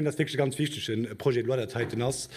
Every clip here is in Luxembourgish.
Ass wierklech e ganz wichtige Projet de loi, dat heiten ass,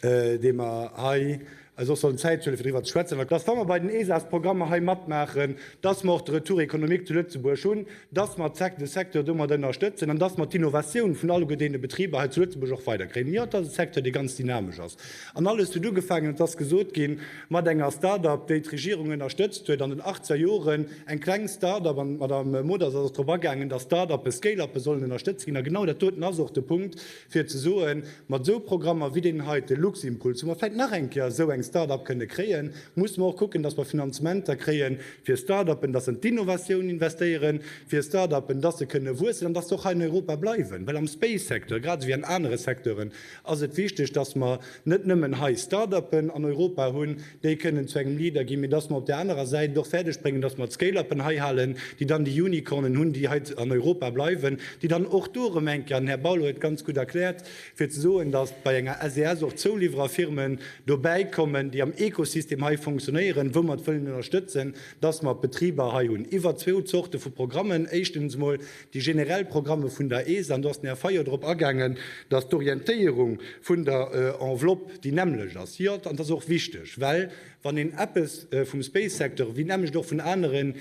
dee mer hei eis och sollen d'Zäit huelen, fir driwwer ze schwätzen, dass, wa mer bei den ESAS-Programmer hei matmaachen, dass mer och de Retour économique zu Lëtzebuerg hunn, dass mer de Secteur domat ënnerstëtzen an dass mer d'Innovatioun vun alleguerdeene Betriber hei zu Lëtzebuerg och weiderkréien. Jo, et ass e Secteur, dee ganz dynamesch ass. An alles huet ugefaangen, et ass gesot ginn, Mat enger Start-Up, déi d'Regierung ënnerstëtzt huet an den Achtzer Joren, eng kleng Start-Up, an d'Madame Modert ass och drop agaangen, dass Start-Uppe, Scale-Uppe sollen ënnerstëtzt ginn. A genau dat doten ass och de Punkt, fir ze soen, mat esou Programmer wéi deenen hei, de Luximpuls, wou mer vläicht nach eng Kéier esou eng Start-Up kënne kréien, musse mer och kucken, dass mer Finanzementer kréie fir Start-Uppen, dass se an d'Innovatioun investéieren, fir Start-Uppen, dass se kënne wuessen an dass se och hei an Europa bleiwen. Well am Space-Secteur, grad esou wéi an anere Secteuren, ass et wichteg, dass mer net nëmmen hei Start-upen an Europa hunn, déi kënnen zu engem Leader ginn, mee dass mer op där anerer Säit et och fäerdeg bréngen, dass mer d'Scale-upen hei halen, déi dann déi Unicornen hunn, déi hei an Europa bleiwen, déi dann och do erëm eng Kéier, den Här Bauler huet et ganz gutt erkläert, fir ze soen, dass bei enger SES och Zouliwwererfirmen dobäi kommen, déi am Ekosystem hei funktionéieren, wou mer et wëllen ënnerstëtzen, dass mer Betriber hei hunn iwwer zwou Zorte vu Programmen, éischtens emol Déi generell Programme vun der ESA, an do ass den Här Fayot drop agaangen, dass d'Orientéierung vun der Enveloppe déi nämmlecht ass. Jo, an dat ass och wichteg, well wann een eppes vum Space-Secteur, ewéi d'nämmlecht och vun aneren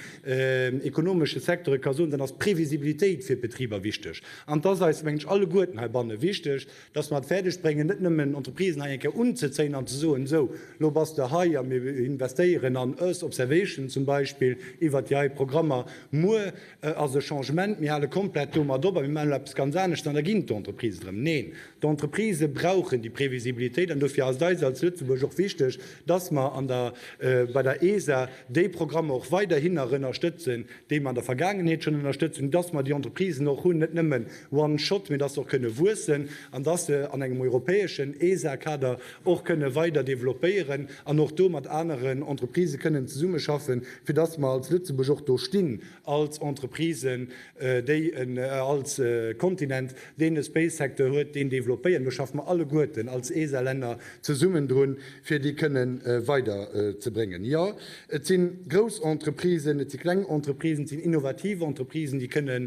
ekonomesche Secteure ka soen, dann ass d'Previsibilitéit fir d'Betriber wichteg. An et ass eis, mengen ech, alleguerten heibanne wichteg, dass mer et fäerdeg bréngen, net nëmmen Entreprisen hei eng Kéier unzezéien an ze soen, Esou, elo bass de hei a mir investéieren an Earth Observation zum Beispill iwwert déi hei Programmer, muer Et ass e Changement, mir hale komplett domat op a mir maachen elo eppes ganz anescht an da ginn d'Entreprisen drëm. Neen, d'Entreprise brauchen déi Previsibilitéit an dofir ass et eis als Lëtzebuerg och wichteg, dass mer an der bei der ESA déi Programmer och weiderhinner ënnerstëtzen, déi mer an der Vergaangenheet schonn ënnerstëtzt hunn, dass mer déi Entreprisen och hunn, net nëmmen one shot, mee dass se och kënne wuessen an dass se an engem europäeschen ESA-Kader och kënne weider developpéieren an och do mat aneren Entreprisë kënnen zesummeschaffen, fir dass mer als Lëtzebuerg och do stinn, als Entreprisen, déi en, als Kontinent, deen e Space-Secteur huet, deen développéiert. Do schaffe mer alleguerten als ESA-Länner zesummen drun, fir déi kënne weider ze bréngen. Jo, et si grouss Entreprisen, et si kleng Entreprisen, et sinn innovativ Entreprisen, déi kënne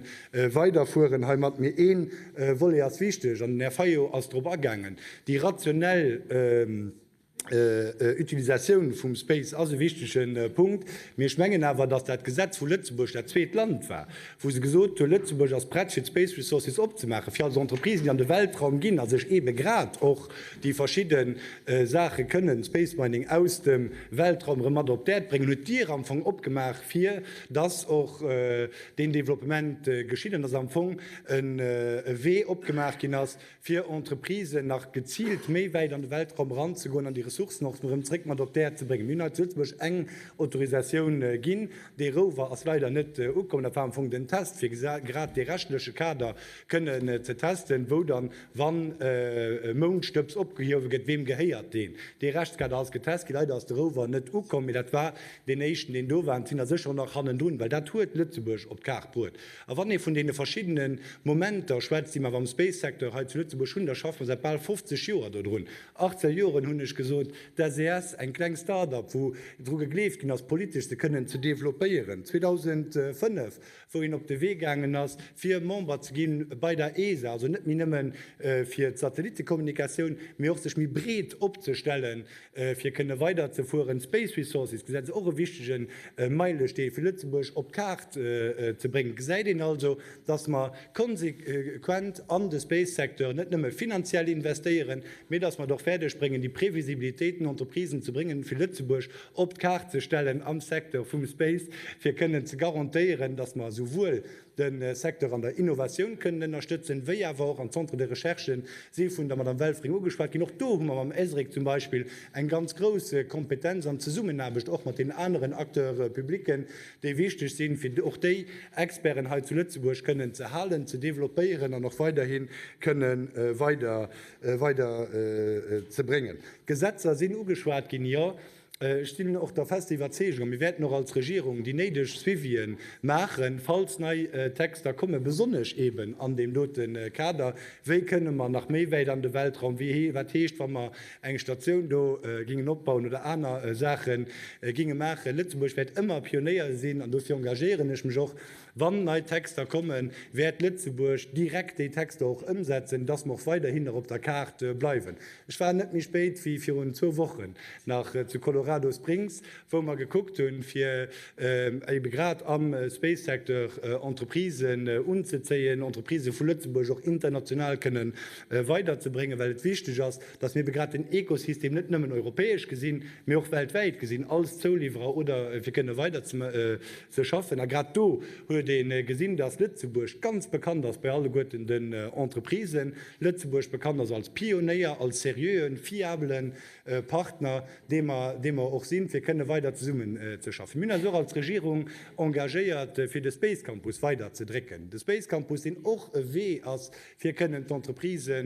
weider fueren heimat. Mee ee Volet ass wichteg, an den Här Fayot ass drop agaangen, déi rationell, Utilisatioun vum Space ass e wichtege Punkt, mee ech mengen awer, datt dat Gesetz vu Lëtzebuerg dat zweet Land war, wou se gesot hu Lëtzebuerg ass prett fir d'Space Resources opzemaachen, fir als Entreprise, déi an de Weltraum ginn a sech eebe grad och déi verschidde Saache kënnen, Space Mining, aus dem Weltraum erëm mat op d'Äerd bréngen, huet d'Dier am Fong opgemaach, fir datt och deen Développement geschitt an datt am Fong e Wee opgemaach ginn ass, fir Entreprisen nach geziilt méi wäit an de Weltraum eranzegoen an déi Ressourcen och erëm zréck mat op d'Äerd ze bréngen. Mir hunn hei zu Lëtzebuerg eng Autorisatioun ginn. Dee Rover ass leider net ukomm. Dat war am Fong den Test, fir grad dee rechtleche Kader kënnen ze testen, wou dann, wann e Moundstëbs opgehuewe gëtt, weem gehéiert deen. Dee Rechtskader ass getest ginn. Leider ass de Rover net ukomm, mee dat war deen éischten, deen do war. An et sinn der sécher och nach hannendrun, well dat huet Lëtzebuerg op d'Kaart bruet. A wann ee vun deene verschiddene Momenter schwätzt, déi mer am Space-Secteur hei zu Lëtzebuerg hunn, da schaffe mer säit bal 50 Joer dodrun. 18 Joren, hunn ech gesot. D'SES, eng kleng Start-up, wou dru gegleeft ginn ass, politesch se kënnen ze developpéieren. 2005, wou een op de Wee gaangen ass, fir Member ze gi bei der ESA, also net méi nëmme fir d'Satellittekommunikatioun, mee och sech méi breet opzestellen. Fir kënne weider ze fueren, Space Resources Gesetz och e wichtege Meilestee fir Lëtzebuerg op d'Kaart ze bréngen. Gesäit een also, datt mer konsequent an de Space Secteur net nëmme finanziell investéieren, mee datt mer et och fäerdeg bréngen déi Previsibilitéit den Entreprisen ze bréngen, fir Lëtzebuerg op d'Kaart ze stellen am Secteur vum Space, fir kënnen ze garantéieren, datt mer esouwuel de Secteur an der Innovatioun kënnen ënnerstëtzen, wéi awer och an d'Centres de recherche, si vun der Madame Welfring ugeschwat ginn. Och do hu mer mam ESRIC zum Beispill eng ganz grouss Kompetenz an Zesummenaarbecht och mat den aneren Acteurs publics, déi wichteg sinn, fir och déi Experten hei zu Lëtzebuerg kënnen ze halen, ze développéieren an och weiderhi kënne weider weiderzebréngen. D'Gesetzer sinn ugeschwat ginn. Jo, Ech sinn och der fester Iwwerzeegung, a mir wäerten och als Regierung déi néideg Suivië maachen, falls nei Texter kommen, besonnesch eeben an deem dote Kader, wéi kënne mer nach méi wäit an de Weltraum, wat heescht, wa mer eng Statioun do gingen opbauen oder aner Saache gingen maachen. Lëtzebuerg wäert ëmmer Pionéier sinn, an dofir engagéieren ech mech och Wann nei Texter kommen, wäert Lëtzebuerg direkt déi Texter och ëmsetzen, dass mer och weiderhin nach op der Kaart bleiwen. Ech war net méi spéit wéi virun zwou Wochen nach zu Colorado Springs, wou mer gekuckt hunn, fir ebe grad am Space-Secteur Entreprisen unzezéien, Entreprise vu Lëtzebuerg och international kënne weiderzebréngen, well et wichteg ass, dass mir ebe grad den Ekosystem net nëmmen europäesch gesinn, mee och weltwäit gesinn als Zouliwwerer oder fir kënne weiderzemaachen. Ze schaffen. A grad do huet ee gesinn, dass Lëtzebuerg ganz bekannt ass bei alleguerten den Entreprisen, Lëtzebuerg bekannt ass als Pionéier, als seriöen, fiabelen Partner, dee mer, dee mer och sinn, fir kënne weider zesummen ze schaffen. Mir hunn eis och als Regierung engagéiert, fir de Space Campus weider ze drécken. De Space Campus, deen och e Wee ass, fir kënnen d'Entreprise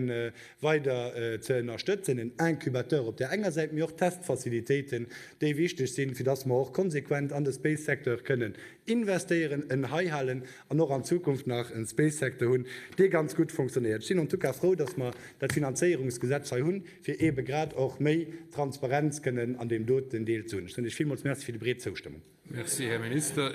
weider ze ënnerstëtzen, en Incubateur op där enger Säit, mee och Testfacilitéiten, déi wichteg sinn, fir dass mer och konsequent an de Space-Secteur kënnen investéieren, en heihalen an och an Zukunft nach e Space-Secteur hunn, dee ganz gutt fonctionnéiert. Ech sinn en tout cas frou, dass mer dat Finanzéierungsgesetz hei hunn, fir eebe grad och méi Transparenz kënnen an deem doten Deel ze hunn. Ech soen Iech villmools Merci fir déi breet Zoustëmmung. Merci, Här Minister.